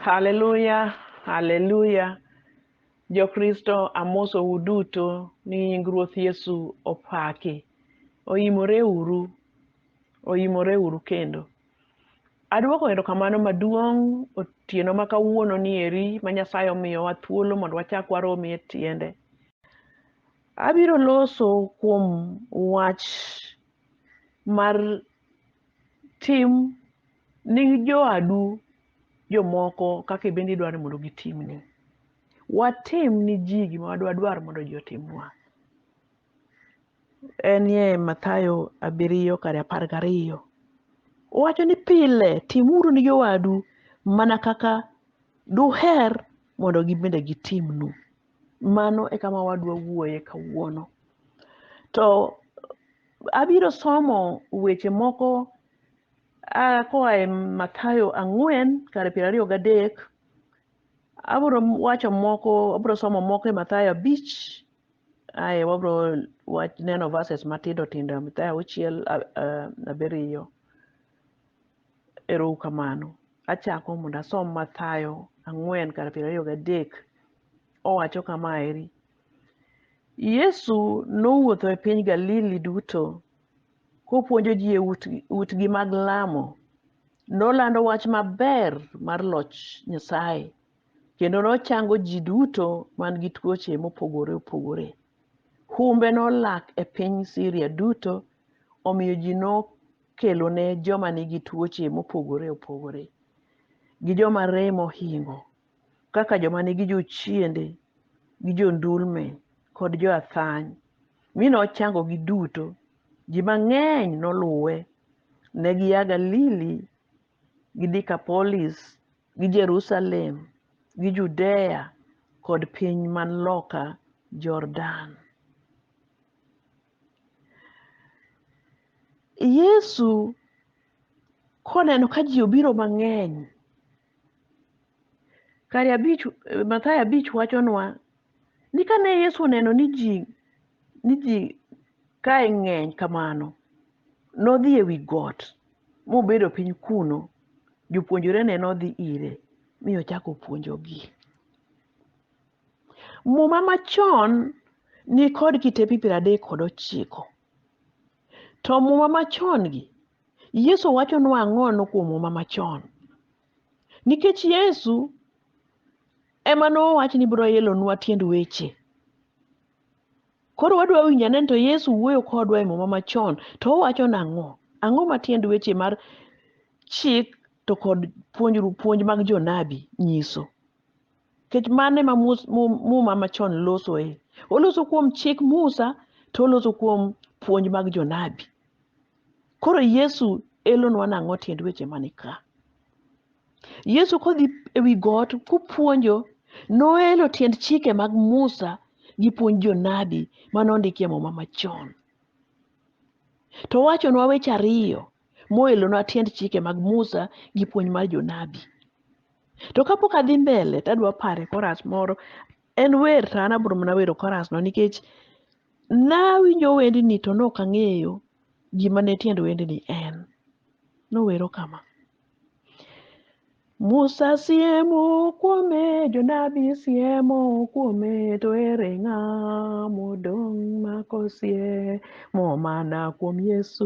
Haleluya, haleluya. Jokristo amosou duto ni nying Ruoth Yesu opaki. Oimore uru, oimore uru kendo. Adwoko erokamano maduong' otieno ma kawuono ni eri ma Nyasaye omiyowa thuolo mondo wachak waromi e tiende. Abiro loso kuom wach mar tim ni joadu jomoko kaka ibende idwaro ni mondo gitimni. Watim ni ji gima wadwadwar mondo ji otimnwa. En ye Mathayo abiriyo kar apar gariyo. Owacho ni pile timuru ni jowadu mana kaka duher mondo gibende gitimnu. mano e kama wadwa wuoye kawuono. To abiro somo weche moko a koa e Mathayo ang'wen kar piero ariyo gadek. Abiro wacho moko, abiro somo moko e Mathayo abich, ae wabiro wach neno verses matindo tindo e Mathayo auchiel a- a- abiriyo. Erou kamano. Achako mondo asom Mathayo ang'wen kar piero ariyo gadek. Owacho kama eri. Yesu nowuotho e piny Galili duto kopuonjo ji e ut- utgi mag lamo. Nolando wach maber mar loch Nyasaye kendo nochango ji duto man gi tuoche mopogore opogore. Humbe nolak e piny Siria duto Omiyo ji nokelone joma nigi tuoche mopogore opogore gi joma rem ohingo kaka joma nigi jochiende gi jondulme kod joathany mi nochangogi duto. Ji mang'eny noluwe. Ne gia Galili gi Dikapolis gi Jerusalem gi Judea kod piny man loka Jordan. Yesu koneno ka ji obiro mang'eny, kare abich Mathayo abich wachonwa ni kane Yesu oneno ni ji ni ji kae ng'eny kamano, nodhi ewi got mobedo piny kuno. Jopuonjrene nodhi ire mi ochako puonjogi. Muma machon nikod kitepe piero adek kod ochiko. To muma machon gi, Yesu wachonwa ang'ono kuom muma machon. Nikech Yesu ema nowach ni biro elonwa tiend weche. Koro wadwa winjo ane ni to Yesu wuoyo kodwa e muma machon to owacho nang'o? Ang'o ma tiend weche mar chik to kod puonjru puonj mag jonabi nyiso? kech mane ma muma machon losoe oloso kuom chik musa to oloso kuom puonj mag jonabi koro yesu elonwa nang'o tiend weche mani ka yesu kodhi ewi got kupuonjo noelo tiend chike mag musa gi puonj jonabi mane ondikie muma machon to wachonwa weche ariyo moelonwa tiend chike mag musa gi puonj mar jonabi to kapok adhi mbele to adwa pare koras moro en wer to an abro mana wero korasno nikech nawinjo wendni to ne ok ang'eyo gima ne tiend wendni en nowero kama Musa siemo kuome, jonabi siemo kuome, to ere ng'a modong' ma kosiemo mana kuom Yesu?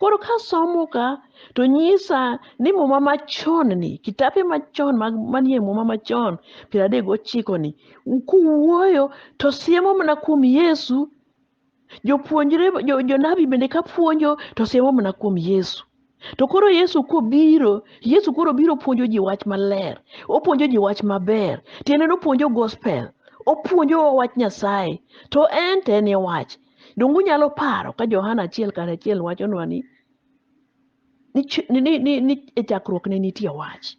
Koro ka somo ka to nyisa ni muma machon ni kitape machon mag manie muma machon piero adek gochiko ni kuwuoyo to siemo mana kuom Yesu. Jopuonjre jo, jonabi bende ka puonjo to siemo mana kuom Yesu. To koro Yesu kobiro, Yesu koro biro puonjo ji wach maler. Opuonjo ji wach maber. Tiende ni opuonjo gospel. Opuonjo wach Nyasaye. To en to en e wach. Donge unyalo paro ka Johana achiel kar achiel wachonwa ni ni, ch- ni, ni, ni, ni e chakruok ne nitie wach.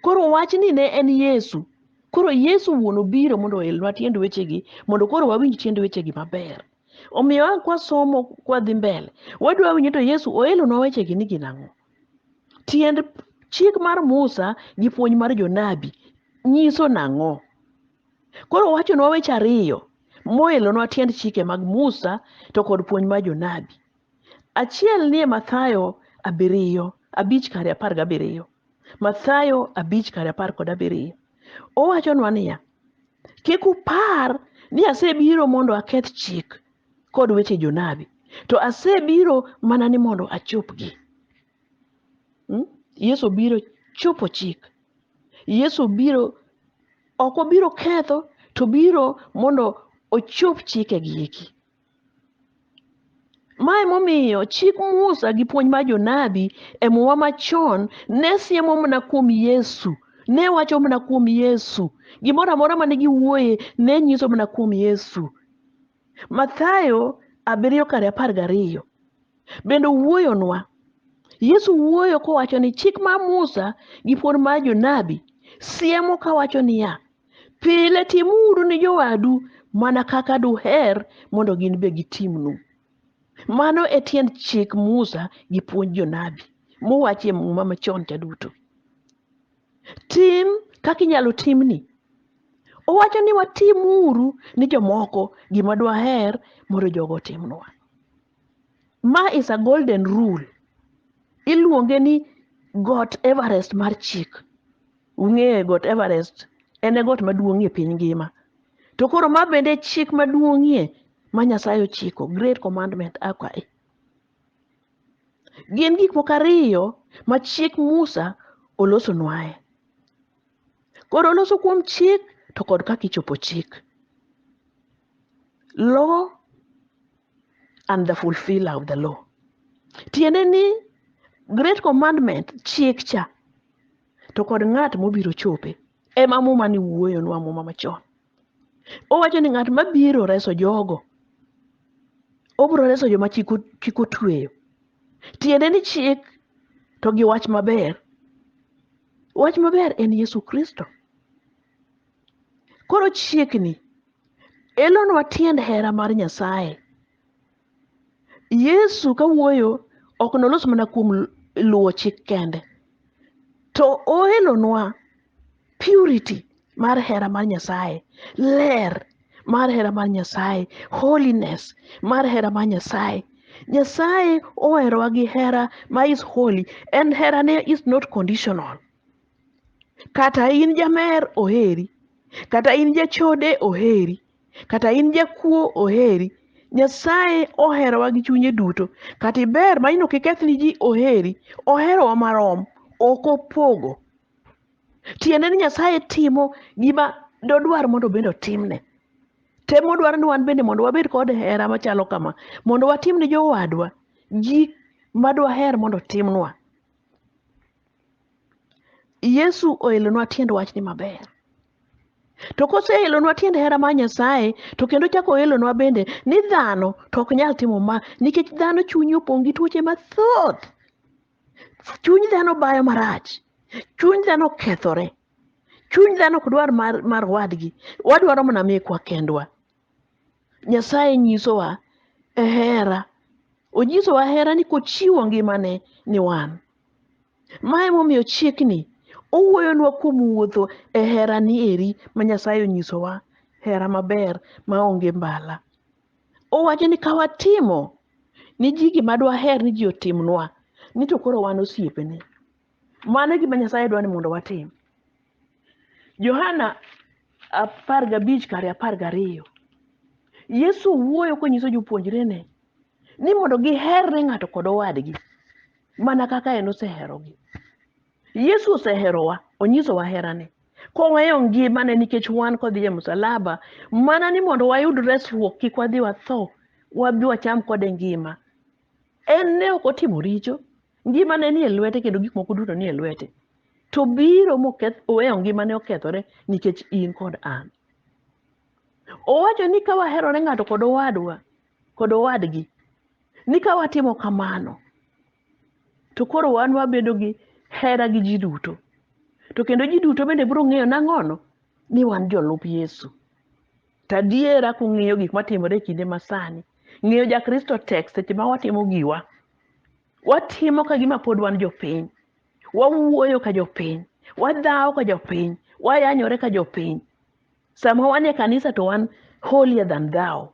Koro wach ni ne en Yesu. Koro Yesu wuon obiro mondo oelnwa tiend wechegi mondo koro wawinj tiend wechegi maber. Omiyo a kwasomo kwadhi mbele, wadwa winjo to Yesu oelonwa wechegi ni gin ang'o. Tiend chik mar Musa gi puonj mar jonabi nyiso nang'o? koro owachonwa weche ariyo moelonwa tiend chike mag musa to kod puonj mar jonabi achiel nie mathayo abiriyo abich kare apar gabiriyo mathayo abich kare apar kod abiriyo owachonwa niya kik upar ni asebiro mondo aketh chik kod weche jonabi to asebiro mana ni mondo achopgi Hmm? yesu biro chopo chik yesu obiro ok obiro ketho to biro mondo ochop chikegi eki mae momiyo chik musa gi puonj mar jonabi e muma machon ne siemo mana kuom yesu ne wacho mana kuom yesu gimoro amora mane giwuoye ne nyiso mana kuom yesu Mathayo abiriyo kar apar gariyo bende wuoyonwa. Yesu wuoyo kowacho ni chik mar Musa gi puonj mar jonabi siemo kawacho niya, pile timuru ni jowadu mana kaka duher mondo gin be gitimnu. Mano e tiend chik Musa gi puonj jonabi mowachi e muma machon cha duto. Tim kaka inyalo timni. Owacho ni watim uru ni jomoko gima dwaher mondo jogo otimnwa. Ma is a golden rule. Iluonge ni got Everest mar chik. Ung'eye got Everest en e got maduong'ie piny ngima. To koro ma bende chik maduong'ie ma Nyasaye ochiko, great commandment akwayi. Gin gik moko ariyo ma chik Musa olosonwae. Koro oloso kuom chik to kod kaka ichopo chik. Law and the fulfiller of the law. Tiende ni great commandment chik cha to kod ng'at mobiro chope ema muma ni wuoyonwa muma machon. Owacho ni ng'at mabiro reso jogo, obiro reso joma chik o- chik otweyo. Tiende ni chik to gi wach maber. Wach maber en Yesu Kristo. Koro chiekni elonwa tiend hera mar Nyasaye. Yesu ka wuoyo ok nolos mana kuom luwo chik kende, to oelonwa purity mar hera mar Nyasaye, ler mar hera mar Nyasaye, holiness mar hera mar Nyasaye. Nyasaye oherowa gi hera ma is holy and herane is not conditional. Kata in jamer oheri, kata in jachode oheri, kata in jakuo oheri nyasaye oherowa gi chunye duto kata iber ma ino kiketh ni ji oheri oherowa marom ok opogo tiende ni nyasaye timo gima dodwar mondo bende otimne tem odwaro ni wan bende mondo wabed kod hera machalo kama mondo watim ne jowadwa gik madwaher mondo timnwa yesu oelonwa tiend wachni maber To koseelonwa tiend hera mar Nyasaye, to kendo chako oelonwa bende ni dhano to ok nyal timo ma nikech dhano chunye opong' gi tuoche mathoth. Chuny dhano bayo marach, chuny dhano okethore, chuny dhano ok dwar mar, mar wadgi, wadwaro mana mekwa kendwa. Nyasaye nyisowa e hera, onyisowa hera ni kochiwo ngimane ni wan. Mae momiyo chiekni owuoyonwa kuom wuotho e herani eri ma Nyasaye onyisowa, hera maber ma onge mbala. Owacho ni ka watimo ni ji gima dwaher ni ji otimnwa, ni to koro wan osiepene. Mano e gima Nyasaye dwa ni mondo watim. Johana apar gabich kare apar gariyo, Yesu wuoyo konyiso jopuonjrene ni mondo giher ne ng'ato kod owadgi mana kaka en oseherogi. Yesu oseherowa, onyisowa herane koweyo ngimane nikech wan kodhi e msalaba mana ni mondo wayud resruok kik wadhi watho wabi wacham kode ngima. En ne ok otimo richo, ngimane nie lwete kendo gik moko duto nie lwete. To biro moketh oweyo ngimane okethore nikech in kod an. Owacho ni ka waherore ng'ato kod owadwa, kod owadgi ni ka watimo kamano to koro wan wabedo gi hera gi ji duto to kendo ji duto bende biro ng'eyo nang'ono ni wan jolup yesu to adiera kung'iyo gik matimore e kinde masani ng'eyo jakristo tek seche ma watimo giwa watimo ka gima pod wan jopiny wawuoyo ka jopiny wadhawo ka jopiny wayanyore ka jopiny Sama wan e kanisa to wan holier than thou.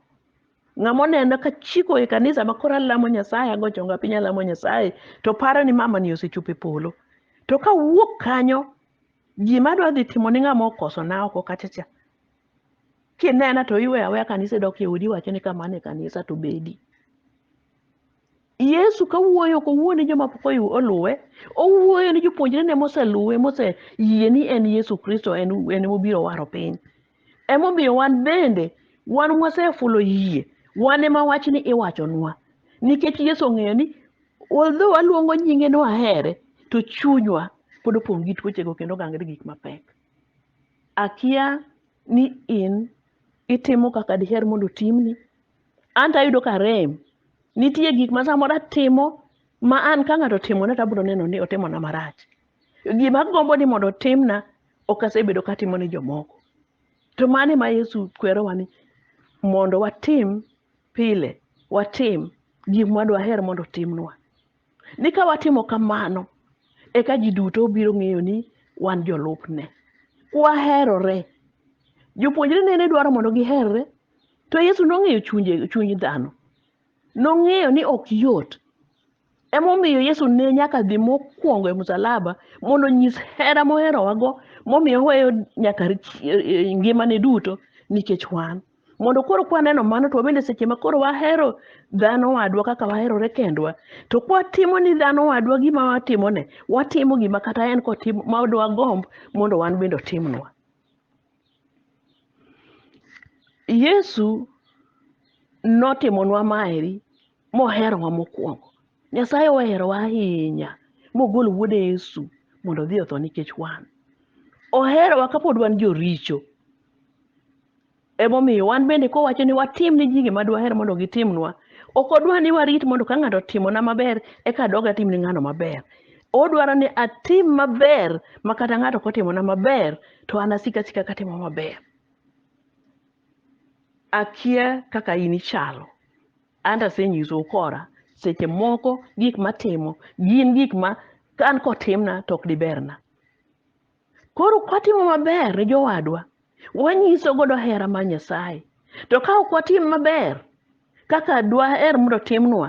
Ng'ama oneno ka chiko e kanisa ma koro alamo Nyasaye, ago chonga piny alamo Nyasaye, to paro ni mama ni osechopo e polo. To ka wuok kanyo, ji madwa dhi timo ni ng'ama okoso na oko kacha cha. Kinena to iwe aweya kanisa idok e odi iwacho ni kama ne kanisa to bedi. Yesu ka wuoyo ok owuo ni joma pok oyu- oluwe, owuoyo ni jopuonjrene moseluwe, moseyie ni en Yesu Kristo en en mobiro waro piny. Emomiyo wan bende wan mwasefulo yie, wan ema wachni iwachonwa. Nikech Yesu ong'eyo ni although waluongo nyinge ni wahere, to chunywa pod opong' gi tuochego kendo gangre gik mapek. Akia ni in itimo kaka diher mondo otimni, An to ayudo ka rem. Nitie gik ma samoro atimo ma an ka ng'ato otimona to abiro neno ni otimona marach. Gima agombo ni mondo otimna ok asebedo ka atimo ne jomoko. To mano ema Yesu kwerowa ni mondo watim pile, watim gik ma dwaher mondo otimnwa. ni ka watimo kamano eka ji duto biro ng'eyo ni wan jolupne kwaherore jopuonjre ne ne dwaro mondo giherre to yesu nong'eyo chunje chuny dhano nong'eyo ni ok yot emomiyo yesu ne nyaka dhi mokwongo e msalaba mondo onyis hera moherowago momiyo oweyo nyaka ngimane duto nikech wan mondo koro kwaneno mano to wabende seche ma koro wahero dhano wadwa kaka waherore kendwa to kwatimo ni dhano wadwa gima watimone watimo gima kata en kotimo ma odwa gomb mondo wan bende otimnwa yesu notimonwa maeri moherowa mokwongo. Nyasaye oherowa ahinya mogolo wuode Yesu mondo odhi otho nikech wan. Oherowa kapod wan joricho. Emomiyo wan bende kowacho ni watim ni ji gima dwaher mondo gitimnwa, ok odwa ni warit mondo ka ng'ato otimona maber eka adog atim ni ng'ano maber. Odwaro ni atim maber ma kata ng'ato kotimona maber to an asika asika katimo maber. akia kaka in ichalo anta asenyiso ukora seche moko gik matimo gin gik ma ka an kotimna to ok diberna koro kwatimo maber ne jowadwa wanyiso godo hera mar nyasaye to ka ok watim maber kaka dwaher mondo timnwa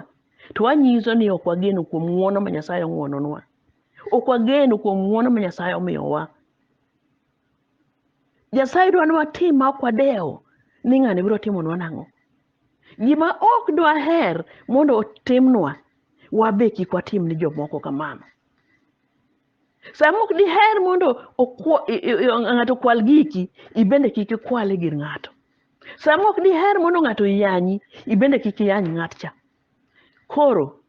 to wanyiso ni ok wageno kuom ng'wono ma nyasaye ong'wononwa ok wageno kuom ng'wono ma nyasaye omiyowa Nyasaye dwa ni watim ma ok wadewo ni ng'ani biro timonwa nang'o. Gima ok dwaher mondo otimnwa, wabe kik watim ni jomoko kamano. Sama ok diher mondo okwa- i- i- i- ng'ato okwal giki, ibende kik ikwale gir ng'ato. Sama ok diher mondo ng'ato yanyi, ibende kik iyany ng'at cha. Koro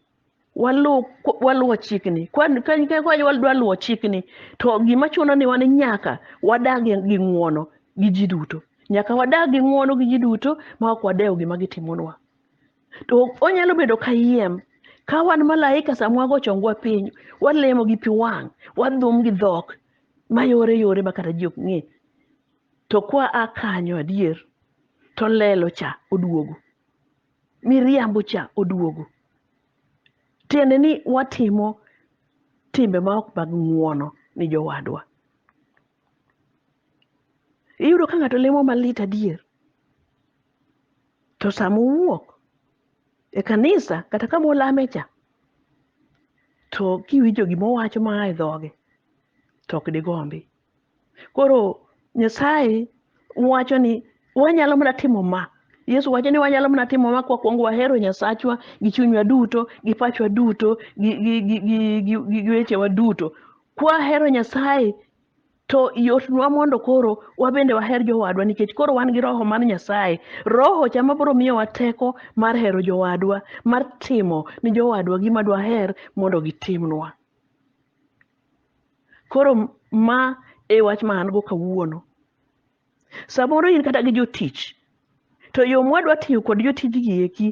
waluw waluwo chikni kwadwa luwo chikni to gima chuno ni wan nyaka wadag gi ng'uono gi ji duto nyaka wadag gi ng'uono gi ji duto ma ok wadewo gima gitimonwa to onyalo bedo kayiem ka wan malaika sama wago chongwa piny walemo gi pi wang' wadhum gi dhok mayore yore ma kata ji ok ng'e to kwa a kanyo adier to lelo cha oduogo miriambo cha oduogo tiende ni watimo timbe ma ok mag ng'uono ni jowadwa iyudo ka ng'ato lemo malit adier to sama owuok e kanisa kata kama olame cha to kiwinjo gima owacho maa e dhoge to ok digombi koro nyasaye wacho ni wanyalo mana timo ma yesu wacho ni wanyalo mana timo ma kwakwongo wahero nyasachwa gi chunywa duto gi pachwa duto gi, gi, gi, gi, gi, gi, gi wechewa duto kwahero nyasaye to yotnwa mondo koro wabende waher jowadwa nikech koro wan gi roho mar nyasaye roho cha mabiro miyowa teko mar hero jowadwa mar timo ni jowadwa gima dwaher mondo gitimnwa koro ma e wach ma an go kawuono samoro in kata gi jotich to yo mwadwa tiyo kod jotij gi eki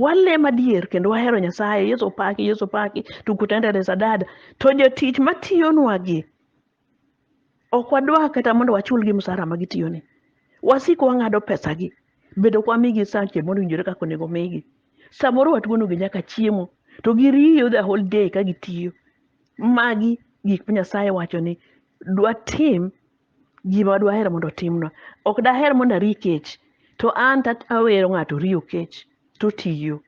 walem adier kendo wahero nyasaye yesu paki yesu paki tukutendere sadada to jotich matiyonwa gi ok wadwa kata mondo wachulgi msara ma gitiyoni wasiko wang'ado pesagi bedo ok wamigi sache mowinjore kaka onego migi samoro watuonogi nyaka chiemo to giriyo the whole day ka gitiyo magi gik ma nyasaye wacho ni dwatim gima dwahero mondo otimnwa ok daher mondo ari kech to an to awero ng'ato riyo kech totiyo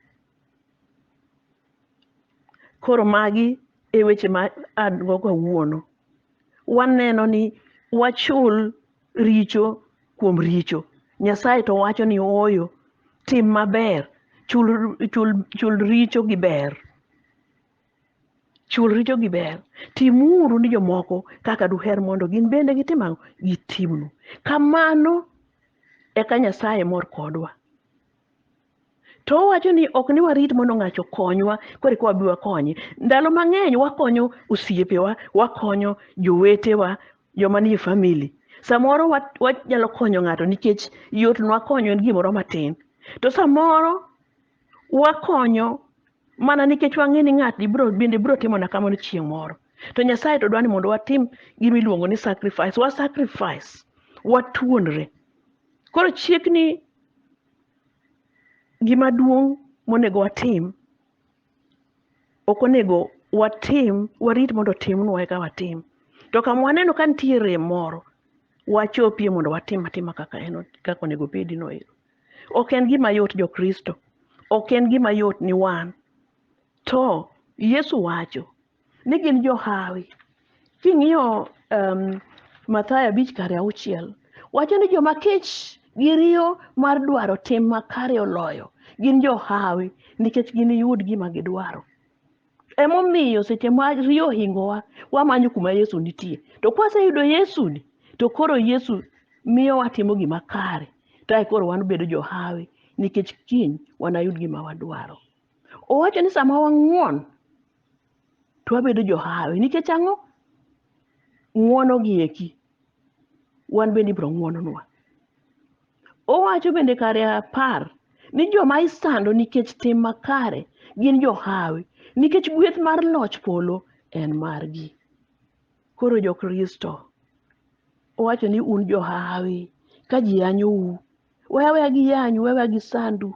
Koro magi e weche ma an go kawuono. Waneno ni wachul richo kuom richo. Nyasaye to wacho ni ooyo, tim maber, chul, chul, chul richo gi ber. Chul richo gi ber. Timuru ni jomoko kaka duher mondo gin bende gitim ang'o? Gitimnu. Kamano eka Nyasaye mor kodwa. to owacho ni ok ni warit mondo ng'ato okonywa koro eka wabi wakonye ndalo mang'eny wakonyo osiepewa wakonyo jowetewa joma nie famili samoro wa- wanyalo konyo ng'ato nikech yot nwa konyo en gimoro matin to samoro wakonyo mana nikech wang'e ni ng'atni bro bende bro timona kamano chieng' moro to nyasaye to dwa ni mondo watim gima iluongo ni sacrifice wa sacrifice watuonre koro chiegni gima duong' monego watim ok onego watim warit mondo otimnwa eka watim to kama waneno ka nitie rem moro wachopie mondo watim atima kaka en kaka onego obedi no ero ok en gima yot jokristo ok en gima yot ni wan to yesu wacho ni gin johawi king'iyo um, mathayo abich kare auchiel wacho ni joma kech gi riyo mar dwaro tim makare oloyo gin johawi nikech giniyud gima gidwaro emomiyo seche ma riyo ohingowa wamanyo kuma yesu nitie to kwaseyudo yesuni to koro yesu miyo watimo gima kare tae koro wan bedo johawi nikech kiny wanayud gima wadwaro Owacho ni sama wang'won to wabedo johawi nikech ang'o? Ng'wono gi eki wan bende ibiro ng'wononwa. Owacho bende kare apar ni joma isando nikech tim makare gin johawi nikech gweth mar loch polo en margi. Koro Jokristo owacho ni un johawi ka ji yanyou, we aweya giyanyu, we aweya gisandu.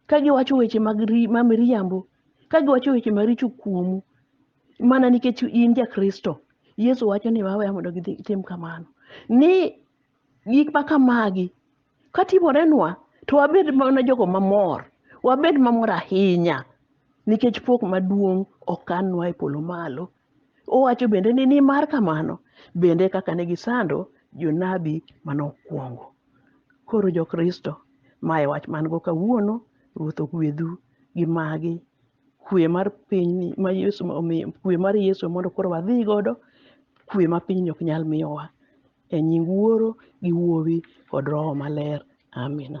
ka giwacho weche mag ri- ma miriambo ka giwacho weche maricho kuomu mana nikech in jakristo yesu wacho ni waweya mondo gidhi tim kamano ni gik ma kamagi ka timorenwa to wabed mana jogo mamor wabed mamor ahinya nikech pok maduong' okanwa e polo malo Owacho bende ni nimar kamano bende kaka ne gisando jonabi mane okwongo. Koro jo-Kristo, ma e wach man go kawuono, Ruoth ogwedhu gi magi. Kwe mar pinyni ma Yesu omiyo, kwe mar Yesu mondo koro wadhi godo, kwe ma pinyni ok nyal miyowa. E nying Wuoro gi Wuowi kod Roho Maler. Amina.